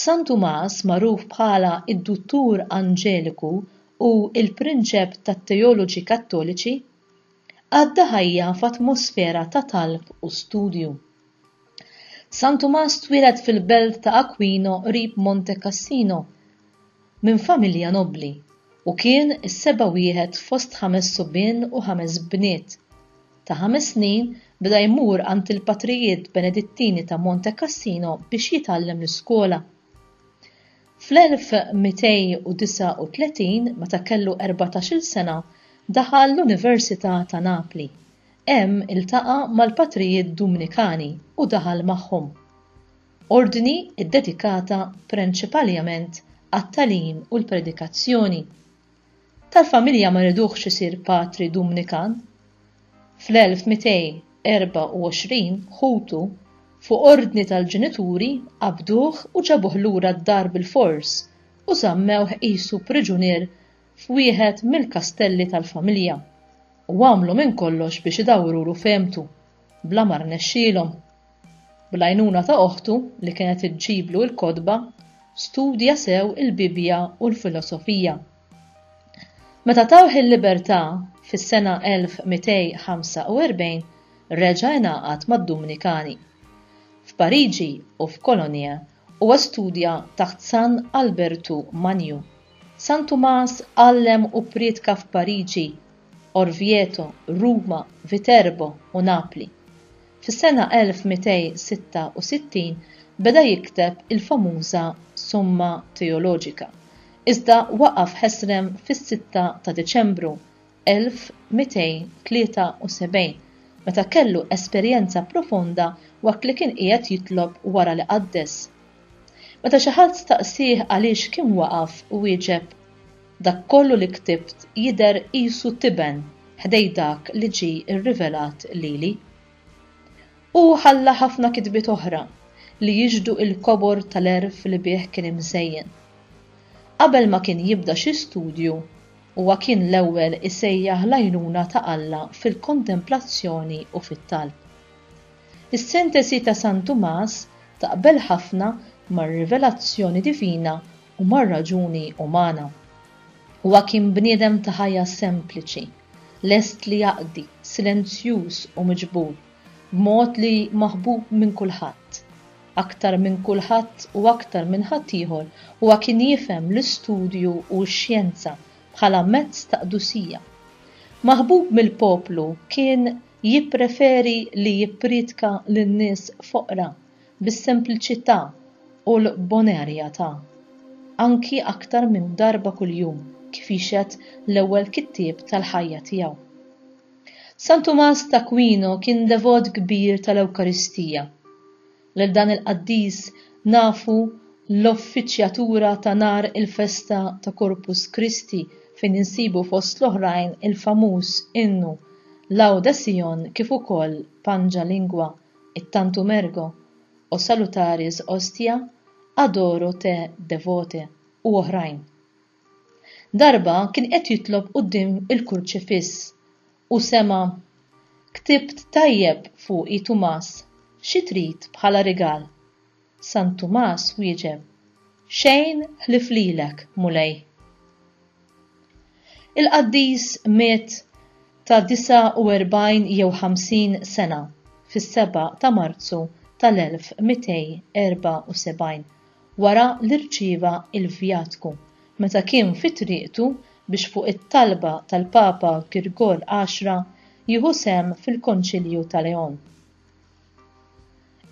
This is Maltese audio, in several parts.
San Tumas magħruf bħala d-Duttur Anġeliku u l-Prinċep tat-Teoloġi Kattoliċi, għadda ħajja f'atmosfera ta' talb u studju. San Tumas twieled fil-belt ta' Aquino qrib Monte Cassino, minn familja nobbli u kien is-seba' wieħed fost ħames subien u ħames bniet. Ta' ħames snin beda jmur għand il-patrijiet Benedittini ta' Monte Cassino biex jitgħallem l-iskola. Fl-1239, meta kellu erbatax-il sena, daħal l-Università ta' Napli. Hemm iltaqa' mal-patrijiet Dumnikani u daħal magħhom. Ordni ddedikata prenċipaliament għat-tagħlim u l-predikazzjoni. Tal-familja ma riduhx isir patri Dumnikan. Fl-1224 ħutu, fuq ordni tal-ġenituri, qabduh u ġabuh lura d-dar bilfors u żammewh qisu priġunier f'wieħed mill-kastelli tal-familja u għamlu minn kollox biex idawwrulu fehmtu, bla ma rnexxielhom. Bl-għajnuna ta' oħtu li kienet iġġiblu l-kotba, studja sew il-Bibbja u l-filosofija. Meta tawh il-libertà, fis-sena 1245 reġa' ingħaqad mad-Dumnikani. F'Pariġi u f'Cologne huwa studja taħt San Albertu Magnu. San Tumas għallem u ppriedka f'Pariġi, Orvieto, Ruma, Viterbo u Napli. Fis-sena 1266 beda jikteb il-famuża Summa Theologica, iżda waqaf ħesrem fis-sitta ta' Diċembru 1273, meta kellu esperjenza profonda waqt li kien qiegħed jitlob wara li qaddes. Meta xi ħadd staqsieh għaliex kien waqaf, wieġeb, Dak kollu li ktibt jidher qisu tiben ħdejn dak li ġie rrivelat lili. Hu ħalla ħafna kitbiet oħra li jixhdu l-kobor tal-għerf li bih kien imżejjen. Qabel ma kien jibda xi studju, huwa kien l-ewwel isejjaħ l-għajnuna ta' Alla fil-kontemplazzjoni u fit-talb. Is-sintesi ta' San Tumas taqbel ħafna mar-rivelazzjoni divina u mar-raġuni umana. Huwa kien bniedem ta' ħajja sempliċi, lest li jaqdi, silenzjuż u miġbur, b'mod li maħbub minn kulħadd. Aktar minn kulħadd u aktar minn ħaddieħor huwa kien jifhem l-istudju u x-xjenza bħala mezz ta' qdusija. Maħbub mill-poplu kien Jippreferi li jipprietka lil nies foqra bis-sempliċità u l-bonerjatà, anki aktar minn darba kuljum, kif jixhed l-ewwel kittieb tal-ħajja tiegħu. San Tumas t'Akwino kien devot kbir tal-Ewkaristija. Lil dan il-qaddis nafu l-offiċjatura ta' nhar il-festa ta' Corpus Christi fejn insibu fost l-oħrajn il-famuż innu Laude Sion kif ukoll Pangia Lingua, it-Tantum Ergo, O Salutaris Hostia, Adoro te Devote u oħrajn. Darba kien qed jitlob quddiem il-kurċifiss U sema', Ktibt tajjeb fuqi Tumas, xi trid bħala rigal? San Tumas wieġeb, Xejn ħlief lilek, Mulej. Il-qaddis miet ta' 49 jew 50 sena, fis-seba' ta' Marzu tal-1274, wara li rċieva l-vjatku meta kien fi triqtu biex fuq it-talba tal-Papa Girgol Għaxra jieħu sehem fil-Konċilju ta' Leon.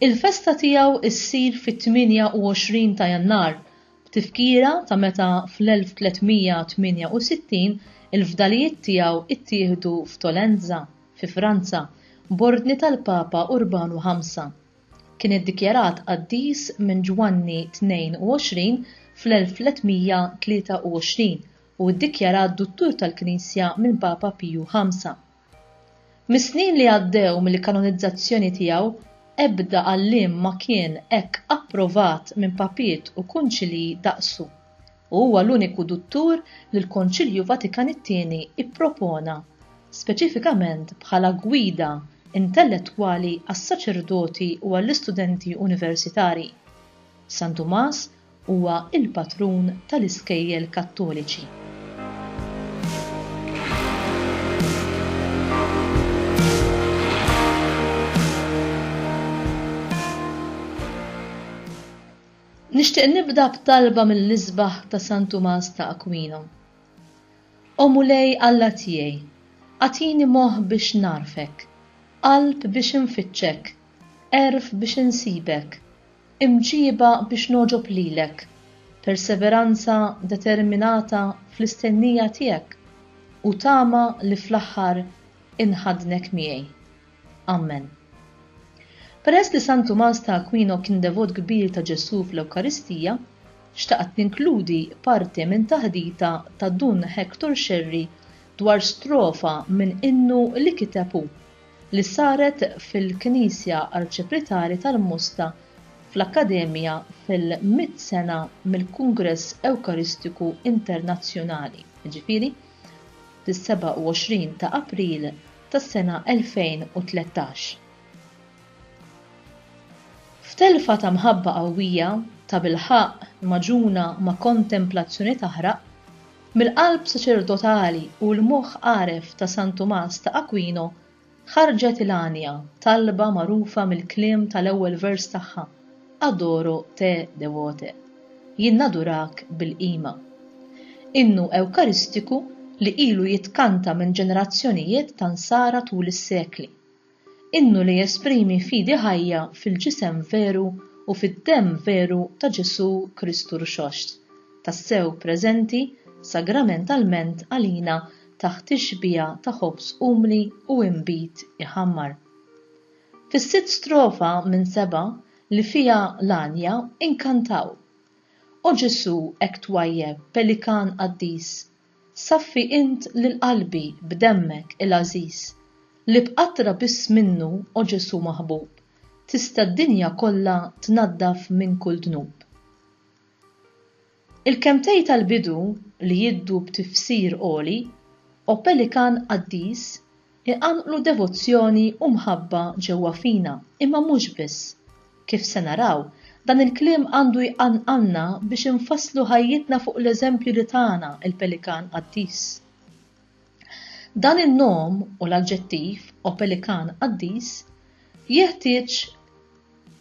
Il-festa tiegħu ssir fit-28 ta' Jannar b'tifkira ta' meta fl-1368 il-fdalijiet tiegħu ttieħdu f'Tolenza, fi Franza, b'ordni tal-Papa Urbanu Ħamsa. Kien iddikjarat qaddis minn Ġwanni 22 fl-1323 u ddikjarat Duttur tal-Knisja minn Papa Piju V. Mis-snin li għaddew mill-kanonizzazzjoni tiegħu, ebda għalliem ma kien hekk approvat minn papiet u kunċilji daqsu. u huwa l-uniku duttur li l-Konċilju Vatikan it-Tieni ppropona speċifikament bħala gwida intellettwali għas-saċerdoti u għall-istudenti universitarji. San Tumas huwa l-patrun tal-iskejjel Kattoliċi. Nixtieq nibda b'talba mill-isbaħ ta' San Tumas ta' Aquino. O Mulej Alla tiegħi, agħtini moħħ biex nagħrfek, qalb biex infittxek, għerf biex insibek, imġiba biex nogħġob lilek, perseveranza determinata fl-istennija tiegħek, u tama li fl-aħħar inħaddnek miegħi. Ammen. Peress li San Tumas ta' Aquino kien devot kbir ta' Ġesù fl-Ewkaristija, xtaqt ninkludi parti minn taħdita ta' Dun Hector Scerri dwar strofa minn innu li kiteb hu, li saret fil-Knisja Arċipritali tal-Mosta fl-Akkademja fil-mitt sena mill-Kungress Ewkaristiku Internazzjonali, jiġifieri fis-27 ta' April tas-sena 2013. F'telfa ta' mħabba qawwija, tabilħaqq magħġuna ma' kontemplazzjoni taħraq, mill-qalb saċerdotali u l-moħħ għaref ta' San Tumas ta' Aquino ħarġet il-għanja, talba magħrufa mill-kliem tal-ewwel vers tagħha, Adoro te devote, jien nadurak bil-qima. Innu Ewkaristiku li ilu jitkanta minn ġenerazzjonijiet ta' Nsara tul is-sekli. Innu li jesprimi fidi ħajja fil-Ġisem veru u fid-Demm veru ta' Ġesù Kristu Rxoxt, tassew preżenti sagramentalment għalina taħt tixbiha ta' ħobż umli u inbid iħammar. Fis-sitt strofa minn seba' li fiha l-għanja inkantaw, O Ġesù hekk twajjeb pelikan qaddis, saffi int lil qalbi b'demmek il-għażiż, li b'qatra biss minnu, O Ġesù maħbub, tista' d-dinja kollha tnaddaf minn kull dnub. Il-kelmtej tal-bidu li jiddu b'tifsir għoli, O Pelikan Qaddis, iqanqlu devozzjoni u mħabba ġewwa fina, imma mhux biss. Kif se naraw, dan il-kliem għandu jqanqalna biex infasslu ħajjitna fuq l-eżempju li tana l-Pelikan Qaddis. Dan in-nom u l-aġġettiv opelikan qaddis jeħtieġ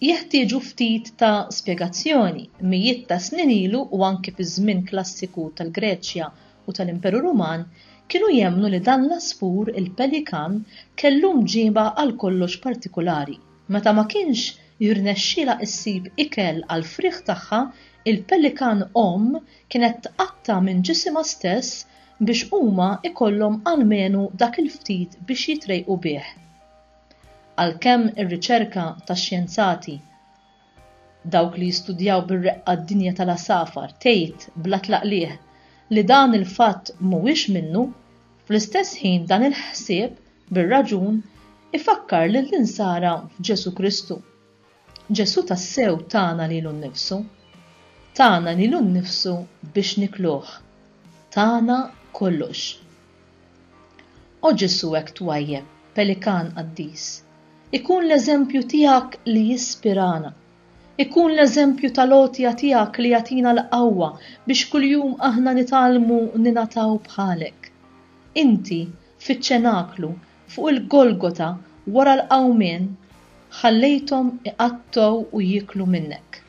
jeħtieġu ftit ta' spjegazzjoni. Mijiet ta' snin ilu u anki fiż-żmien klassiku tal-Greċja u tal-Imperu Ruman kienu jemmnu li dan l-għasfur, il-pelikan, kellu mġiba għalkollox partikulari. Meta ma kienx jirnexxielha issib ikel għall-frieħ tagħha, il-pelikan omm kienet tqatta' minn ġisimha stess biex huma jkollhom almenu dak il-ftit biex jitrejqu bih. Għalkemm ir-riċerka tax-xjenzati, dawk li jistudjaw bir-reqqa d-dinja tal-għasafar, tgħid bla tlaqligħ li dan il-fatt mhuwiex minnu, fl-istess ħin dan il-ħsieb, bir-raġun, ifakkar lill-Insara f'Ġesù Kristu. Ġesù tassew tana lilu nnifsu. Tana lilu nnifsu biex nikluh. Tana kollox. O Ġesù hekk twajjeb, pelikan qaddis. Ikun l-eżempju tiegħek li jispirana. Ikun l-eżempju tal-għotja tiegħek li jagħtina l-qawwa biex kuljum aħna nitgħallmu ningħataw bħalek. Inti, fiċ-ċenaklu, Fuq il-Golgota wara l-qawmien ħallejthom iqattgħu u jieklu minnek.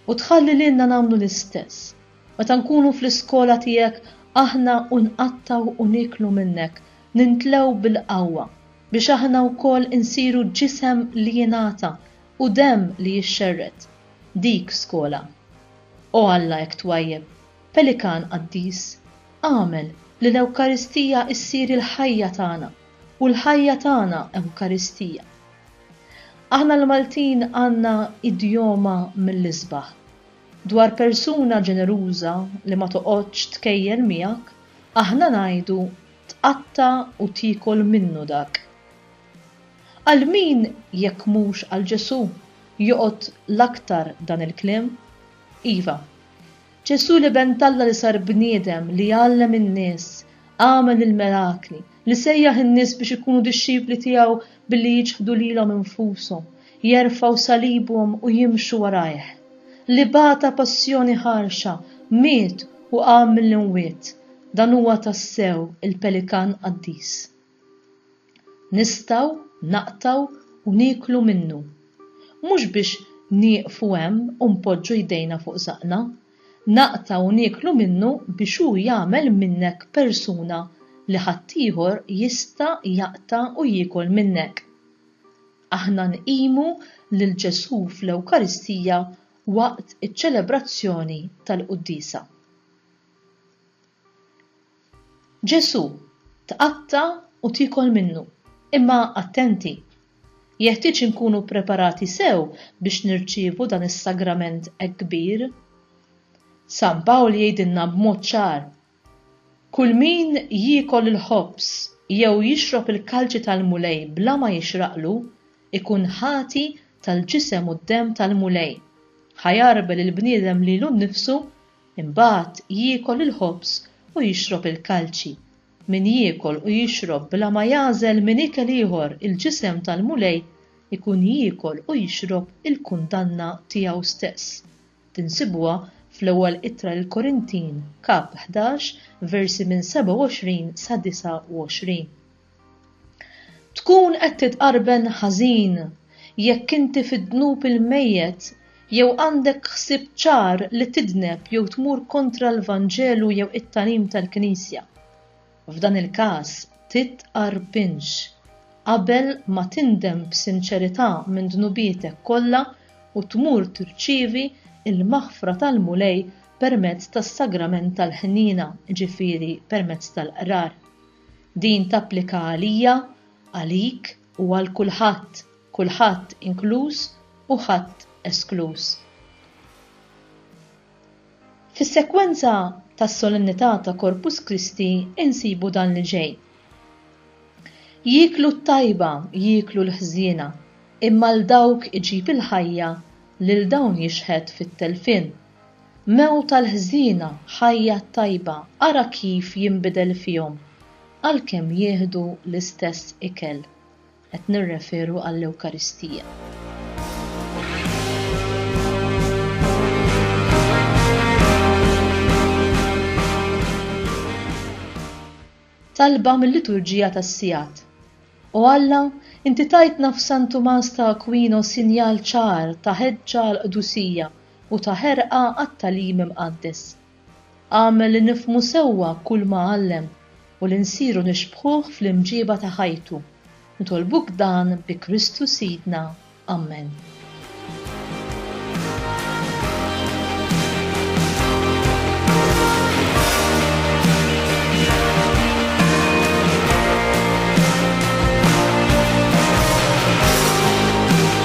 U tħalli lilna nagħmlu l-istess. Meta nkunu fl-iskola tiegħek aħna u nqattgħu u nieklu minnek, nintlgħu bil-qawwa biex aħna wkoll insiru ġisem li jingħata u demm li jixxerred. Dik skola. O Alla hekk twajjeb! Pelikan qaddis, agħmel li l-Ewkaristija ssir il-ħajja tagħna u l-ħajja tagħna Ewkaristija. Aħna l-Maltin għandna idjoma mill-isbaħ. Dwar persuna ġeneruża li ma toqgħodx tkejjel miegħek, aħna ngħidu tqatta' u tiekol minnu dak. Għal min jekk mhux għal Ġesù joqgħod l-aktar dan il-kliem? Iva. Ġesù l-Iben t'Alla li sar bniedem, li għallem in-nies, għamel il-mirakli, li sejjaħ in-nies biex ikunu dixxipli tiegħu billi jiċħdu lilhom infushom, jerfgħu salibhom u jimxu warajh. Li bata passjoni ħarxa, miet u qam mill-imwiet, dan huwa tassew il-Pelikan qaddis. Nistgħu naqtgħu u nieklu minnu. Mhux biex nieqfu hemm u npoġġu jdejna fuq żaqqna. Naqtgħu u nieklu minnu biex hu jagħmel minnek persuna li ħaddieħor jista' jaqta' u jiekol minnek. Aħna nqimu lil Ġesù fl-Ewkaristija waqt iċ-ċelebrazzjoni tal-Quddiesa. Ġesù, Tqatta' u tiekol minnu. Imma attenti! Jeħtieġ inkunu ppreparati sew biex nirċievu dan is-sagrament hekk kbir. San Pawl jgħidilna b'mod ċar, Kulmin jiekol il-ħobż jew jixrob il-kalċi tal-Mulej bla ma jixraqlu, ikun ħati tal-ġisem u d-demm tal-Mulej. Ħa jagħrbel il-bniedem lilu nnifsu Imbagħad jiekol il-ħobż u jixrob il-kalċi. Min jiekol u jixrob bla ma jagħżel minn ikel ieħor il-ġisem tal-Mulej ikun jiekol u jixrob il-kundanna tiegħu stess. Tinsibuha fl-Ewwel Ittra lill-Korintin, Kap. Ħdax, versi minn 27 sa 29. Tkun qed titqarben ħażin jekk inti fid-dnub il-mejjet jew għandek ħsieb ċar li tidneb jew tmur kontra l-Vanġelu jew it-tagħlim tal-Knisja. F'dan il-każ titqarbinx. Qabel ma tindem b'sinċerità minn dnubietek kollha u tmur tirċievi l-maħfra tal-Mulej permezz tas-sagrament tal-ħniena, ġifieri permezz tal-qrar. Din tapplika għalija, għalik u għal kulħadd, kulħadd inkluż u ħadd eskluż. Fis-sekwenza tas-Solennità ta' Corpus Christi insibu dan li ġej, Jieklu t-tajba, jieklu l-ħżiena, imma 'l dawk iġib il-ħajja, lil dawn jixħet fit-telfien. Mewt għall-ħżiena, ħajja t-tajba, ara kif jinbidel fihom għalkemm jieħdu l-istess ikel. Qed nirreferu għall-Ewkaristija. Talba mil-Liturġija tas-Sigħat. O Alla, inti tajtna f'San Tumas ta' Aquino sinjal ċar ta' ħeġġa għall-qdusija, u ta' ħerqa għat-tagħlim imqaddes. Agħmel li nifhmu sewwa kull ma għallem u li nsiru nixbħuh fl-imġieba ta' ħajtu. Nitolbuk dan bi Kristu Sidna. Ammen.